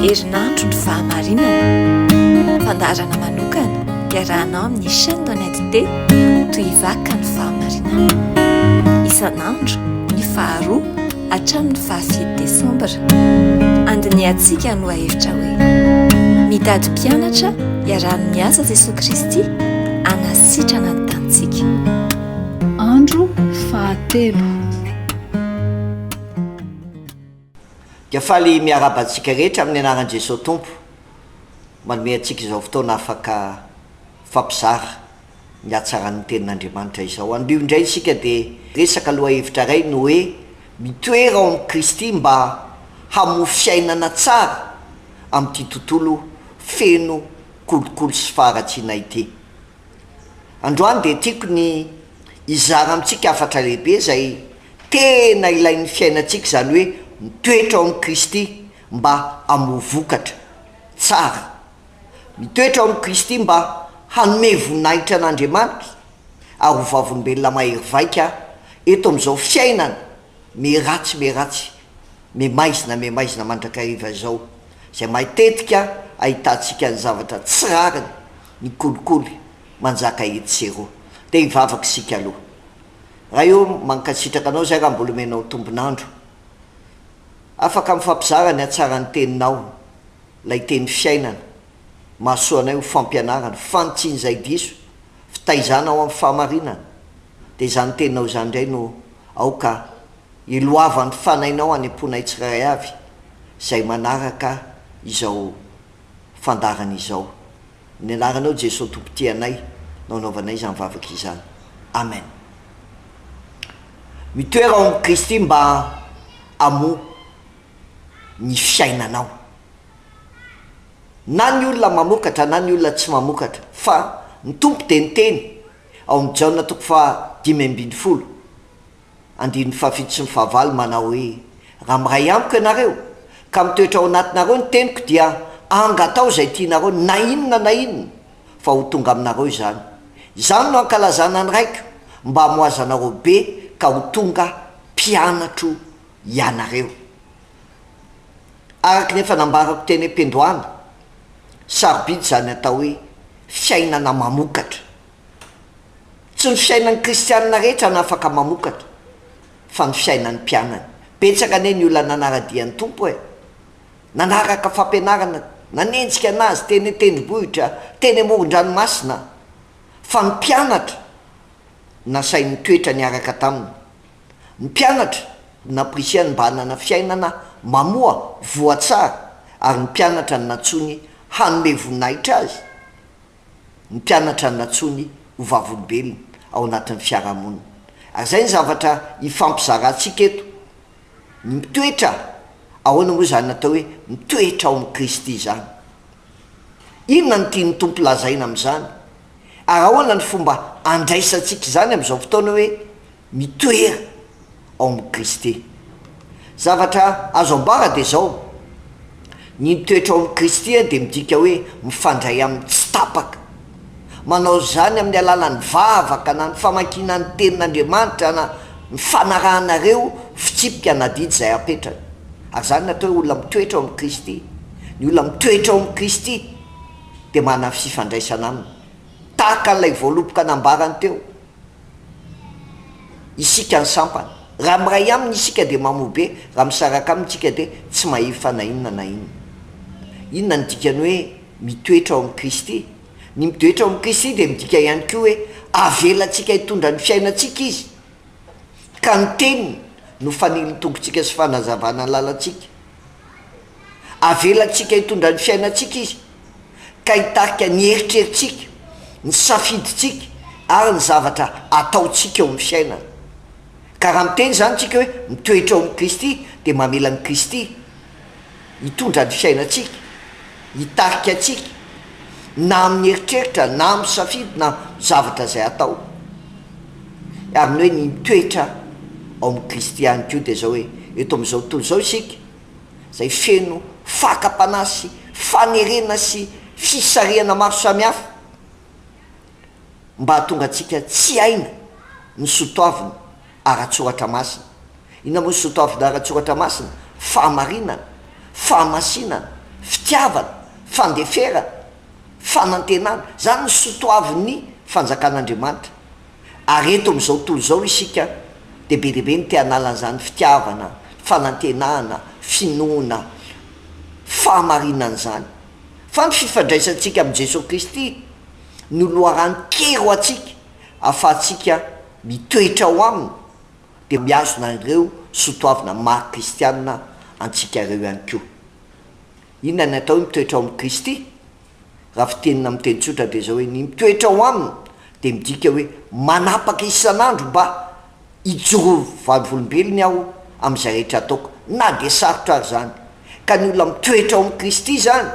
Herinandro ny fahamarinana. Fandaharana manokana iarahanao amin'ny chaîne Honnête T toy vaka ny fahamarinana. Isan'andro ny faharoa Hatramin'ny fahafito Desambra, andinihantsika ny lohahevitra hoe Mitady Mpianatra Iaraha-miasa Jesoa Kristy Hanasitrana ny Tanintsika. Andro fahatelo. Dia faly miarahaba antsika rehetra amin'ny anaran'i Jesoa Tompo manome antsika izao fotoana afaka mifampizara ny hatsaran'ny Tenin'Andriamanitra izao. Anio indray isika dia hiresaka lohahevitra iray ny hoe Mitoera ao amin'i Kristy mba Hamofy Fiainana Tsara amin'ity Tontolo Feno Kolikoly sy Faharatsiana ity. Androany dia tiako ny hizara amintsika hafatra lehibe izay tena ilain'ny fiainantsika, izany hoe mitoetra ao amin'i Kristy mba hamoa vokatra tsara. Mitoetra ao amin'i Kristy mba hanome voninahitra an'Andriamanitra ary ho vavolombelona mahery vaika eto amin'izao fiainana miharatsy miharatsy, miha-maizina miha-maizina mandrakariva izao, izay matetika ahitantsika ny zavatra tsy rariny, ny kolikoly manjaka etsy sy eroa. Dia hivavaka isika aloha. Ray ô, mankasitraka Anao izay raha mbola omenao tombon'andro. Afaka mifampizara ny hatsaran'ny Teninao Ilay teny fiainana, mahasoa anay ho fampianarana, fanitsian'izay diso, fitaizana ao amin'ny fahamarinana. Dia izany teninao izany indray no aoka hiloavan'ny fanahinao any am-ponay tsirairay avy, izay manaraka izao fandaharana izao. Amin'ny Anaranao Jesoa Tompo tia anay no anaovanay izany vavaka izany. Amen. Mitoera ao amin'i Kristy mba hamoa. ny fiainanao. Na ny olona mamokatra na ny olona tsy mamokatra, fa ny Tompo dia niteny ao amin'ny Jaona toko faha dimy ambin'ny folo andininy fahafito sy ny fahavalo manao hoe, Raha miray amiko ianareo ka mitoetra ao anatinareo ny teniko dia angatao izay tianareo na inona na inona fa ho tonga aminareo izany. Izany no hankalazana ny Raiko mba hamoazanareo be ka ho tonga mpianatro ianareo. Araka ny efa nambarako teny am-piandohana, sarobidy izany atao hoe fiainana mamokatra. Tsy ny fiainan'ny kristianina rehetra no afaka mamokatra fa ny fiainan'ny mpianany. Betsaka anie ny olona nanara-dia ny Tompo e! Nanaraka fampianarana, nanenjika an'Azy teny an-tendrombohitra, teny amoron-dranomasina, fa ny mpianatra nasainy nitoetra niaraka taminy. Mpianatra namporisihany mba hanana fiainana mamoa voa tsara ary ny mpianatra no nantsoiny hanome voninahitra azy, ny mpianatra no nantsoiny ho vavolombelona ao anatin'ny fiarahamonina. Ary izay ny zavatra ifampizarantsika eto. Ny mitoetra, ahoana moa izany atao hoe mitoetra ao amin'i Kristy izany? Inona no tian'ny Tompo lazaina amin'izany? Ary ahoana ny fomba handraisantsika izany amin'izao fotoana hoe Mitoera ao amin'i Kristy. Zavatra azo ambara dia izao, ny mitoetra ao amin'i Kristy dia midika hoe mifandray aminy tsy tapaka. Manao izany amin'ny alalan'ny vavaka na ny famakiana ny Tenin'Andriamanitra na ny fanarahana ireo fitsipika na didy izay apetrany. Ary izany no atao hoe olona mitoetra ao amin'i Kristy. Ny olona mitoetra ao amin'i Kristy dia manana fifandraisana Aminy, tahaka an'ilay voaloboka nambarany teo. Isika ny sampana. Raha miray aminy isika dia mamo be, raha misaraka aminy tsika dia tsy mahefa na inona na inona. Inona ny dikany hoe mitoetra ao amin'i Kristy? Ny mitoetra ao amin'i Kristy dia midika ihany koa hoe avelantsika hitondra ny fiainantsika Izy, ka ny Teniny no fanilintonkontsika sy fanazavana ny lalantsika. Avelantsika hitondra ny fiainantsika Izy. ka hitarika ny eritreritsika, ny safidintsika ary ny zavatra ataontsika eo amin'ny fiainana. Ka raha miteny izany isika hoe mitoetra ao amin'i Kristy dia mamela an'i Kristy hitondra ny fiainantsika, hitarika antsika na amin'ny eritreritra na amin'ny safidy na amin'ny zavatra izay atao. Ary ny hoe ny mitoetra ao amin'i Kristy ihany koa dia izao hoe eto amin'izao tontolo izao isika, izay feno fakam-panahy sy fanerena sy fisarihana maro samihafa mba hahatonga antsika tsy haina ny sotoavina ara-tsoratra masina. Inona moa ny sotoavina ara-tsoratra masina? Fahamarinana, fahamasinana, fitiavana, fandeferana, fanantenana. Izany ny sotoavin'ny fanjakan'Andriamanitra. Ary eto amin'izao tontolo izao isika dia be dia be ny te hanala an'izany fitiavana, fanantenana, finoana, fahamarinana izany. Fa ny fifandraisantsika amin'i Jesoa Kristy no loharano kely ho antsika ahafahantsika mitoetra ao Aminy dia mihazona an'ireo sotoavina maha kristiana antsika ireo ihany koa. Inona ny atao hoe mitoetra ao amin'i Kristy? Raha fitenina amin'ny teny tsotra dia izao hoe ny mitoetra ao aminy dia midika hoe manapaka isan'andro mba hijoro vavolombelony aho amin'izay rehetra ataoko na dia sarotra ary izany. Ka ny olona mitoetra ao amin'i Kristy izany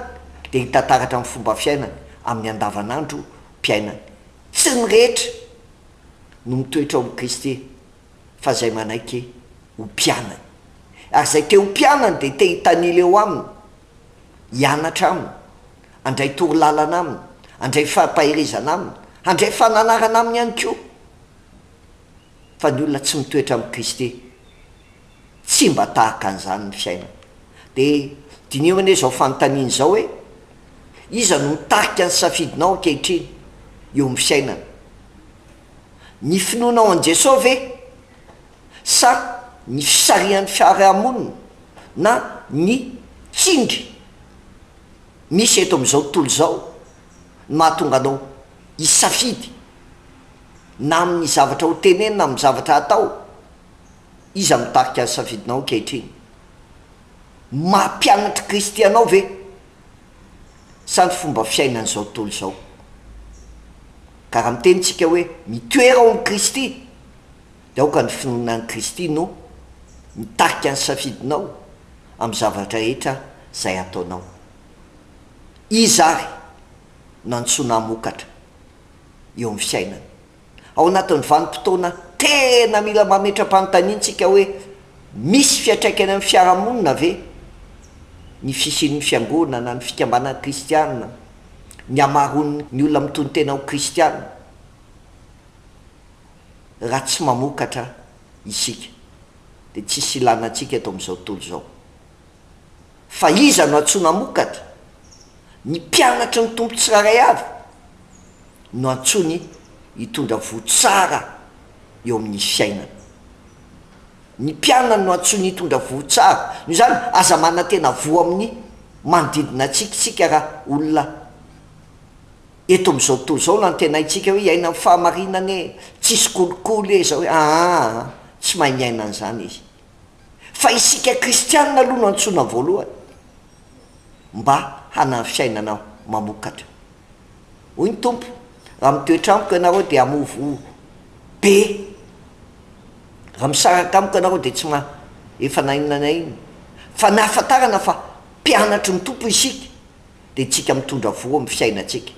dia hita taratra amin'ny fomba fiainany amin'ny andavanandro piainany. Tsy ny rehetra no mitoetra ao amin'i Kristy fa izay manaiky ho mpianany. Ary izay te ho mpianany dia te hitanila eo aminy. hianatra aminy, handray torolalana aminy, handray fampaherezana aminy, handray fananarana aminy ihany koa. Fa ny olona tsy mitoetra amin'i Kristy, tsy mba tahaka an'izany ny fiainany. Dia diniho anie izao fanontaniana izao hoe, Iza no mitarika ny safidinao ankehitriny eo amin'ny fiainana? Ny finoanao an'i Jesosy ve sa ny fisarihan'ny fiarahamonina na ny tsindry misy eto amin'izao tontolo izao no mahatonga anao hisafidy na amin'ny zavatra ho tenenina na amin'ny zavatra hatao? Iza mitarika ny safidinao ankehitriny? Maha mpianatr'i Kristy anao ve sa ny fomba fiainan'izao tontolo izao? Ka raha miteny isika hoe mitoera ao amin'i Kristy, dia aoka ny finoana an'i Kristy no mitarika ny safidinao amin'ny zavatra rehetra izay ataonao. Iza àry no antsoina hamokatra eo amin'ny fiainana? Ao anatin'ny vanim-potoana tena mila mametra-panontaniantsika hoe misy fiantraikany amin'ny fiarahamonina ve ny fisian'ny fiangonana, ny fikambanana kristiana, ny hamaroan'ny olona mitonon-tena ho kristiana? Raha tsy mamokatra isika dia tsisy ilana antsika eto amin'izao tontolo izao. Fa iza no antsoina hamokatra? Ny mpianatry ny Tompo tsirairay avy no antsoiny hitondra voa tsara eo amin'ny fiainana. Ny mpianany no antsoiny hitondra voa tsara. Noho izany, aza manantena voa amin'ny manodidina antsika isika raha olona. Eto amin'izao tontolo izao no antenaintsika hoe hiaina ny fahamarinana e! Tsisy kolikoly e! Izao e! Aa! Tsy mahay miaina an'izany izy. Fa isika kristianina aloha no antsoina voalohany mba hanana fiainana mamokatra. Hoy ny Tompo, Raha mitoetra amiko ianareo dia hamovo be. Raha misaraka amiko ianareo dia tsy ma, efa na inona na inona. Fa nahafantarana fa mpianatry ny Tompo isika. Dia tsika mitondra voa am fiainatsika.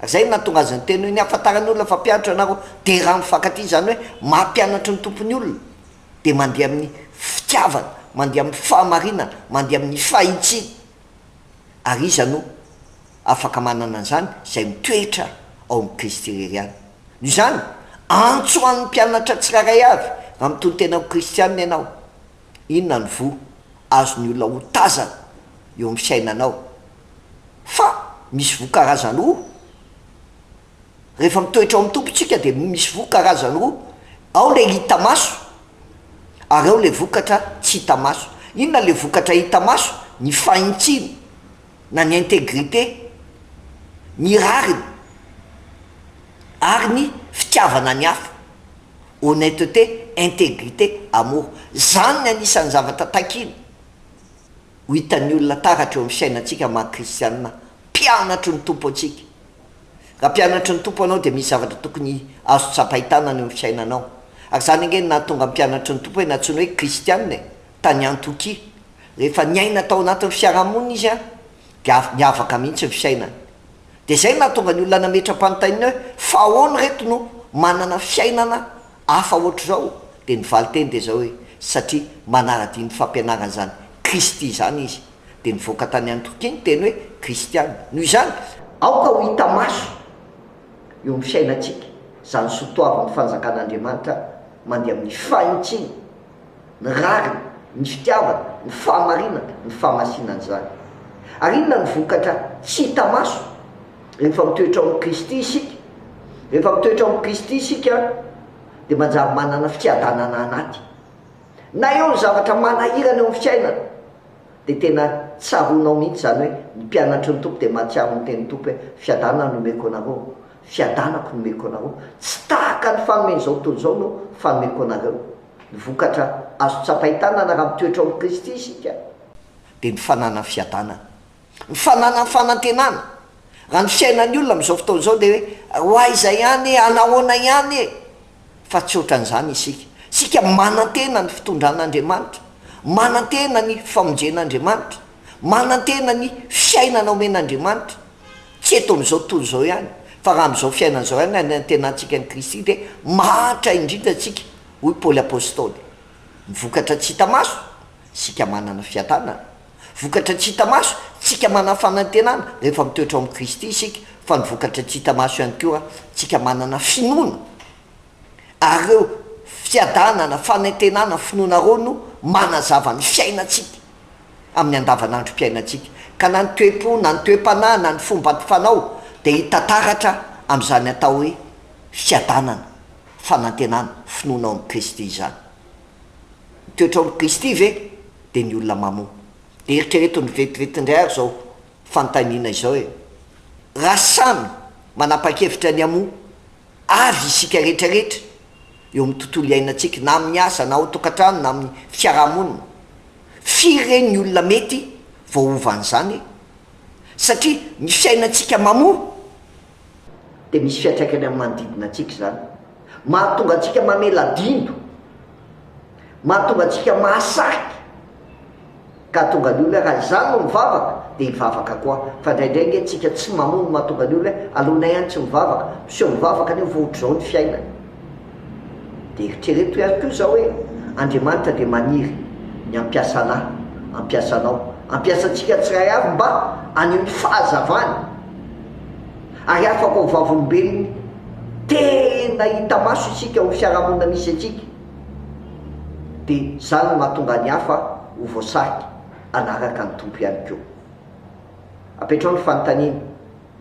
Zay no nahatonga azy niteny hoe, ny ahafantaran'ny olona fa mpianatra ianareo dia raha mifankatia, izany hoe maha-mpianatry ny Tompo ny olona, dia mandeha amin'ny fitiavana, mandeha amin'ny fahamarinana, mandeha amin'ny fahitsiana. Ary iza no afaka manana an'izany? Izay mitoetra ao amin'i Kristy irery ihany. Noho izany, antso ho an'ny mpianatra tsirairay avy, raha mitontena ho kristiana ianao, Inona no voa azon'ny olona ho tazana eo amin'ny fiainanao fa misy voa karazany roa? Rehefa mitoetra ao amin'ny Tompo isika dia misy voa karazany roa, ao ilay hita maso ary ao ilay vokatra tsy hita maso. Inona ilay vokatra hita maso? Ny fahintsiny na ny integrite, ny rariny. ary ny fitiavana ny hafa, honnêteté, intégrité, amour. Izany ny anisan'ny zavatra takiana ho hitan'ny olona taratra eo amin'ny fiainantsika maha kristiana mpianatry ny Tompo antsika. Raha mpianatry ny Tompo ianao dia misy zavatra tokony azo tsapain-tanana eo amin'ny fiainanao. Ary izany ange no nahatonga ny mpianatry ny Tompo hoe nantsoina hoe kristiana e, tany Antiokia. Rehefa niaina tao anatin'ny fiarahamonina izy dia avy niavaka mihitsy ny fiainany. Dia izay no nahatonga ny olona nametra-panontaniana hoe, Fa ahoana ireto no manana fiainana hafa hoatr'izao? Dia ny valin-teny dia izao hoe, Satria manara-dia ny fampianaran'izany Kristy izany izy. Dia nivoaka tany Antiokia ny teny hoe kristiana. Noho izany, aoka ho hita maso eo amin'ny fiainantsika izany soatoavin'ny Fanjakan'Andriamanitra mandeha amin'ny fanintsiana. ny rariny, ny fitiavana, ny fahamarinana, ny fahamasinana izany. Ary inona no vokatra tsy hita maso rehefa mitoetra ao amin'i Kristy isika? Rehefa mitoetra ao amin'i Kristy isika dia manjary manana fiadanana anaty. Na eo ny zavatra manahirana eo amin'ny fiainana dia tena tsaroanao mihitsy izany hoe ny mpianatry ny Tompo dia mahatsiaro ny tenin'ny Tompo hoe fiadanana no omeko anareo, Fiadanako nomeko anao, tsy tahaka ny fanomen'izao tontolo izao no fanomeko anareo. Ny vokatra azo tsapain-tanana raha mitoetra ao amin'i Kristy isika, dia ny fananany fiadanana, ny fananany fanantenana raha ny fiainan'ny olona amin'izao fotoana izao dia hoe ho aiza ihany e, hanahoana ihany e, fa tsy ohatran'izany isika, isika manantena ny fitondran'Andriamanitra, manantena ny famonjen'Andriamanitra, manantena ny fiainana omen'Andriamanitra. Tsy eto amin'izao tontolo izao ihany, fa raha amin'izao fiainana izao ihany no anantenantsika an'i Kristy dia mahantra indrindra isika, hoy Paoly Apostoly. Vokatra tsy hita maso, isika manana fiadanana. Vokatra tsy hita maso, isika manana fanantenana rehefa mitoetra ao amin'i Kristy isika, fa ny vokatra tsy hita maso ihany koa, isika manana finoana. Ary ireo fiadanana, fanantenana, finoana ireo no manazava ny fiainantsika. amin'ny andavanandrom-piainantsika, ka na ny toe-po, na ny toe-panahy, na ny fomba ampifanao dia hita taratra amin'izany atao hoe fiadanana, fanantenana, finoana ao amin'i Kristy izany. Ny toetra ao amin'i Kristy ve dia ny olona mamoa? Dia eritrereto ny vetivety indray ary izao fanontaniana izao e, raha samy manapa-kevitra ny hamoa avy isika rehetrarehetra eo amin'ny tontolo iainantsika, na amin'ny asa, na ao an-tokantrano, na amin'ny fiarahamonina, Firy re ny olona mety voaova an'izany e? Satria ny fiainantsika mamoa dia misy fiantraikany amin'ny manodidina antsika izany. Mahatonga antsika mamela dindo, mahatonga antsika mahasarika, ka hahatonga ny olona, raha izaho no mivavaka, dia hivavaka koa. Fa indraindray ange tsika tsy mamoa no mahatonga ny olona hoe aloanay any tsy mivavaka, miseho mivavaka nefa ohatr'izao ny fiainany. Dia eritrereto ihany koa izao hoe, Andriamanitra dia maniry ny hampiasa anah, hampiasa anao, hampiasa antsika tsirairay avy mba haneho ny fahazavany ary afaka ho vavolombelon'ny tena hita maso isika amin'ny fiarahamonina misy antsika. Dia izany no mahatonga ny hafa ho voasarika hanaraka ny Tompo ihany koa. Apetrao ny fanontaniana,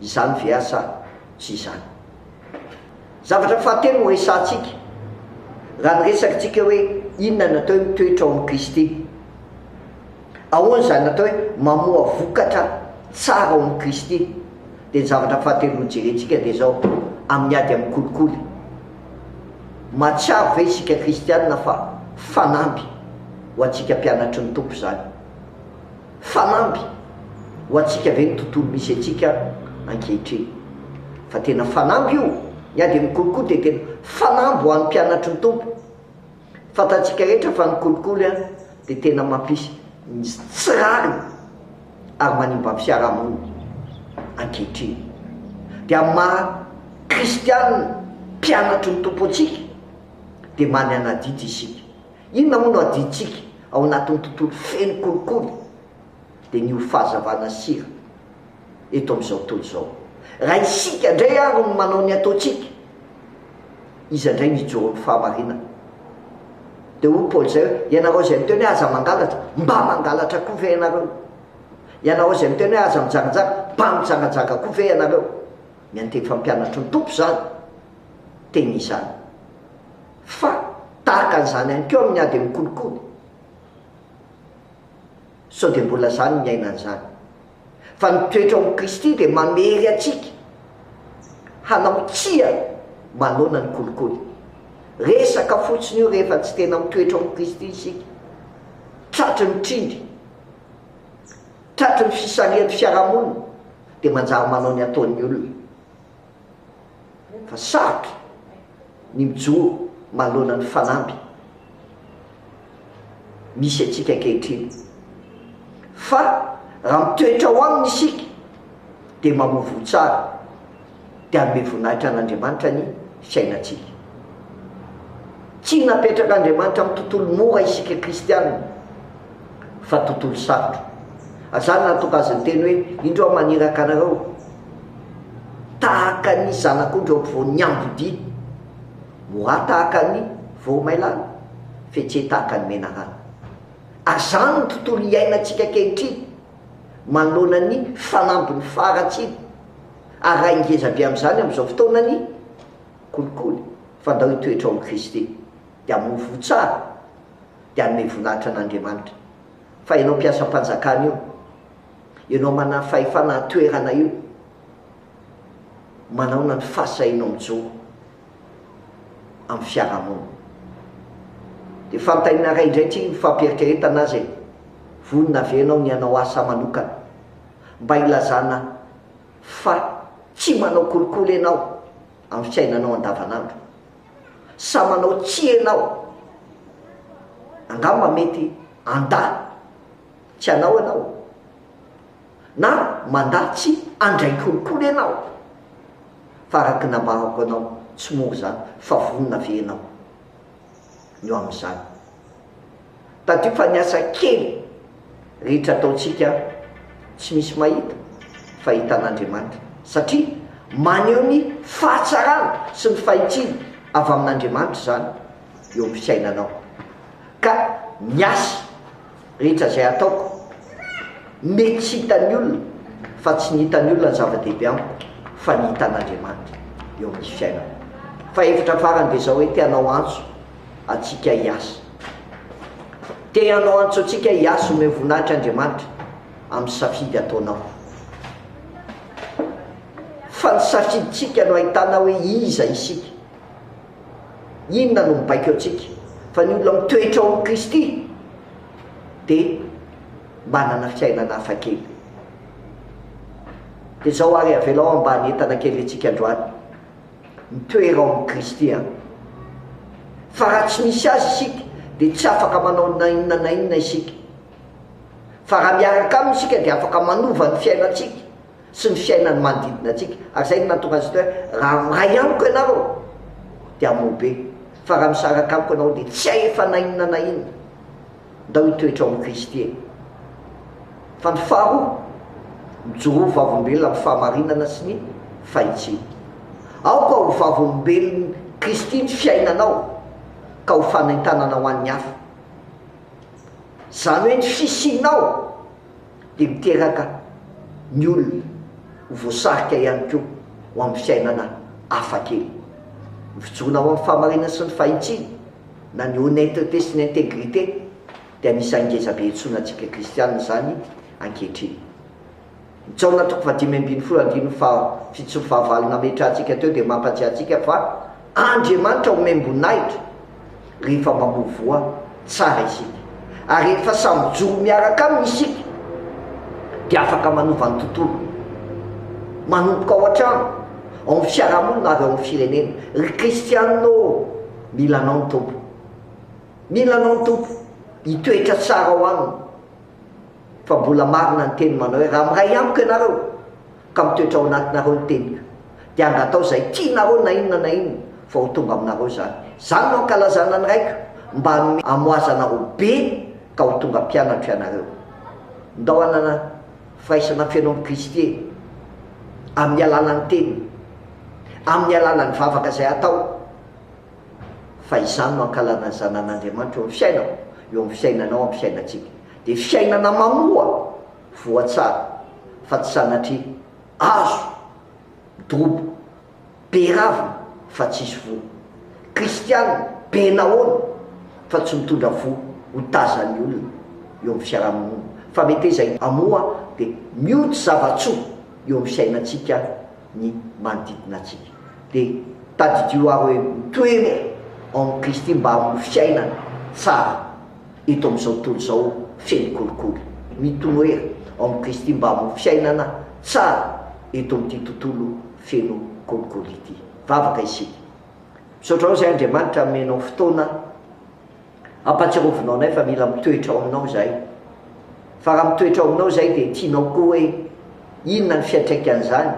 Izany ve aho sa tsy izany? Zavatra fahatelo horesahantsika raha ny resakintsika hoe inona no atao hoe mitoetra ao amin'i Kristy. Ahoana izany atao hoe mamoa vokatra tsara ao amin'i Kristy? Dia ny zavatra fahatelo hojerentsika dia izao, amin'ny ady amin'ny kolikoly. Mahatsiaro ve isika kristiana fa fanamby ho antsika mpianatry ny Tompo izany? Fanamby ho antsika ve ny tontolo misy antsika ankehitriny? Fa tena fanamby io! Ny ady amin'ny kolikoly dia tena fanamby ho an'ny mpianatry ny Tompo. Fantatsika rehetra fa ny kolikoly dia tena mampisy ny tsy rariny ary manimba ny fiarahamonina ankehitriny. Dia amin'ny maha kristianina mpianatry ny Tompo antsika dia manana adidy isika. Inona moa no adintsika ao anatin'ny tontolo feno kolikoly? Dia ny ho fahazavana sira eto amin'izao tontolo izao. Raha isika indray ary no manao ny ataontsika, iza indray no hijoro amin'ny fahamarinana? Dia hoy Paoly izay hoe, Ianareo izay miteny hoe aza mangalatra, mba mangalatra koa ve ianareo? Ianareo izay miteny hoe aza mijanganjanga, mba mijanganjanga koa ve ianareo? Miantefa ny mpianatry ny Tompo izany teny izany. Fa tahaka an'izany ihany koa amin'ny ady amin'ny kolikoly. Sao dia mbola izany ny aina an'izany. Fa ny toetra ao amin'i Kristy dia manery antsika hanao tsia manoloana ny kolikoly. Resaka fotsiny io rehefa tsy tena mitoetra ao amin'i Kristy isika. Tratry ny trindry, tratry ny fisarihan'ny fiarahamonina dia manjary manao ny ataon'ny olona. fa sarotra ny mijoro manoloana ny fanamby misy antsika ankehitriny. Fa raha mitoetra ao aminy isika dia mamovoho tsara, dia hanome voninahitra an'Andriamanitra ny fiainantsika. Tsy napetrak'Andriamanitra amin'ny tontolo mora isika kristiana, fa tontolo sarotra. Azany nahatonga azy niteny hoe, Indro aho maniraka anareo tahaka ny zanak'ondry eo ampovoan'ny ambodiany, Moha tahaka ny voromailala, Fetseha tahaka ny menarana. Ary izany no tontolo iainantsika ankehitriny manoloana ny fanambin'ny faharatsiana. Ary raha ingeza be amin'izany amin'izao fotoana ny kolikoly, fa ndao hitoetra ao amin'i Kristy, dia hamoa voa tsara. dia hanome voninahitra an'Andriamanitra. Fa ianao mpiasam-panjakana io, ianao manana fahefana an-toerana io, manaona ny fahasahianao mijoro amin'ny fiarahamonina. Dia fantainina ray indray tsy mifampiheritreretana aza e, vonona ve ianao ny hanao asa manokana mba hilazana fa tsy manao kolikoly ianao amin'ny fiainanao andavanandro? sa manao tsia ianao? Angamba mety handà tsy anao ianao, na mandà tsy handray kolikoly ianao. Fa araka ny nambarako anao, tsy mora izany, fa vonona ve ianao ny ho amin'izany? Tadidio fa ny asa kely rehetra ataontsika tsy misy mahita fa hitan'Andriamanitra, satria maneho ny fahatsarana sy ny fahitsiana avy amin'Andriamanitra izany eo amin'ny fiainanao. Ka ny asa rehetra izay ataoko, mety tsy hitan'ny olona, fa tsy ny hitan'ny olona no zava-dehibe amiko fa ny hitan'Andriamanitra eo amin'ny fiainako. Fahefatra farany dia izao hoe te hanao antso antsika hiasa. Te hanao antso antsika hiasa omeo voninahitra Andriamanitra amin'ny safidy ataonao. Fa ny safidintsika no ahitana hoe iza isika. Inona no mibaiko antsika. Fa ny olona mitoetra ao amin'i Kristy dia manana fiainana hafa kely. Dia izao ary avelao hambany entana kely antsika androany. Mitoera ao amin'i Kristy aho. Fa raha tsy misy Azy isika, dia tsy afaka manao na inona na inona isika. Fa raha miaraka Aminy isika, dia afaka manova ny fiainantsika sy ny fiainan'ny manodidina antsika. Ary izay no nahatonga Azy hoe, Raha miray Amiko ianareo, dia hamoa be. Fa raha misaraka Amiko ianareo, dia tsy hahefa na inona na inona. Ndao hitoetra ao amin'i Kristy e! Fa ny faharoa, mijoroa ho vavolombelona amin'ny fahamarinana sy ny fahitsiana. Aoka ho vavolombelon'i Kristy ny fiainanao ka ho fanaintanana ho an'ny hafa. Izany hoe ny fisianao dia miteraka ny olona ho voasarika ihany koa ho amin'ny fiainana hafakely. Ny fijoroana ho amin'ny fahamarinana sy ny fahitsiana na ny honnêteté sy ny intégrité dia anisan'ny ngezabe iantsoana antsika kristiana izany ankehitriny. Ny Jaona toko fahadimy ambin'ny folo andininy fahafito sy ny fahavalo nametrahantsika teo dia mampahatsiahy antsika fa Andriamanitra omem-boninahitra rehefa mamovoha tsara isika, ary rehefa samy mijoro miaraka Aminy isika dia afaka manova ny tontolo, manomboka ao an-trano, ao amin'ny fiarahamonina ary ao amin'ny firenena. Ry kristiana ô! Mila anao ny Tompo. Mila anao ny Tompo. Hitoetra tsara ao aminy. Fa mbola marina ny teny manao hoe, raha miray amiko ianareo, ka mitoetra ao anatinareo ny teniko, dia angatao izay tianareo na inona na inona, fa ho tonga aminareo izany. Izany no ankalazana ny Raiko, mba hanome hamoazanareo be, ka ho tonga mpianatro ianareo. Ndao hanana firaisana feno amin'i Kristy e! Amin'ny alalan'ny teniny. Amin'ny alalan'ny vavaka izay atao. fa izany no ankalanan'ny zanan'Andriamanitra eo amin'ny fiainako, eo amin'ny fiainanao, amin'ny fiainantsika. Dia fiainana manoa, voa tsara, fa tsy sanatria, hazo midoboka, be ravina, fa tsisy voa. Kristianina be nahoana, fa tsy mitondra voa ho tazan'ny olona eo amin'ny fiarahamonina, fa mety hoe izay hamoa dia mioty zava-tsoa eo amin'ny fiainantsika ny manodidina antsika. Dia tadidio aho hoe mitoery ao amin'i Kristy mba hamoa fiainana tsara eto amin'izao tontolo izao feno kolikoly. Mitoery ao amin'i Kristy mba hamoa fiainana tsara eto amin'ity tontolo feno kolikoly ity. Vavaka isika. Misaotra anao izay Andriamanitra nomenao fotoana. Ampatsirovinao anay fa mila mitoetra ao aminao izahay. Fa raha mitoetra ao aminao izahay dia tianao koa hoe inona ny fiantraikan'izany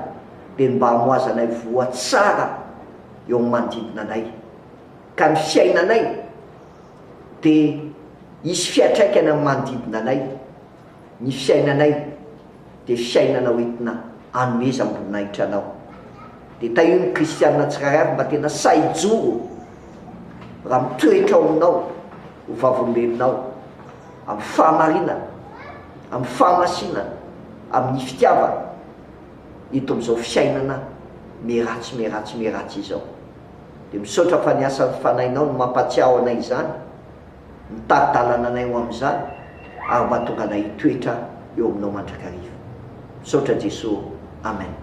dia ny mba hamohazanay voa tsara eo amin'ny manodidina anay. Ka ny fiainanay dia hisy fiatraikany amin'ny manodidina anay. Ny fiainanay. dia fiainana hoentina anomezam-boninahitra anao. Dia tahio ny kristiana tsirairay ary mba tena sahy hijoro raha mitoetra ao aminao ho vavolombelonao amin'ny fahamarinana, amin'ny fahamasinana, amin'ny fitiavana eto amin'izao fiainana miharatsy miharatsy miharatsy izao. Dia misaotra fa ny asan'ny Fanahinao no mampahatsiaho anay izany. Mitady dalana anay ho amin'izany ary mahatonga anay hitoetra eo aminao mandrakariva. Misaotra Jeso ô. Amen.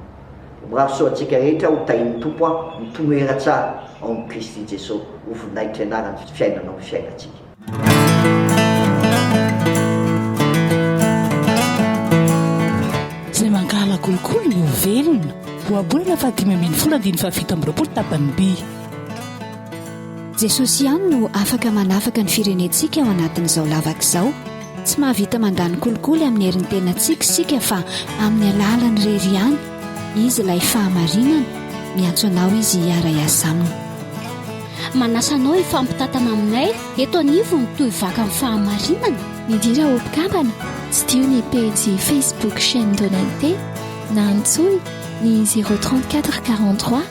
Mirary soa antsika rehetra ho tahin'ny Tompo aho mitomoera tsara ao amin'i Kristy Jeso. Ho voninahitry ny anarany fiainanao ny fiainantsika. Jesosy ihany no afaka manafaka ny firenentsika ao anatin'izao lavaka izao. Tsy mahavita mandany kolikoly amin'ny herin'ny tenantsika isika fa amin'ny alalany irery ihany. Izy ilay fahamarinana. Miantso anao izy hiara-hiasa aminy. Manasa anao hifampitantana aminay eto anivon'ny Toy Vaka amin'ny Fahamarinana. Midira ho mpikambana, tsidiho ny pejy Facebook Chaîne Donente na antsoy ny 034 43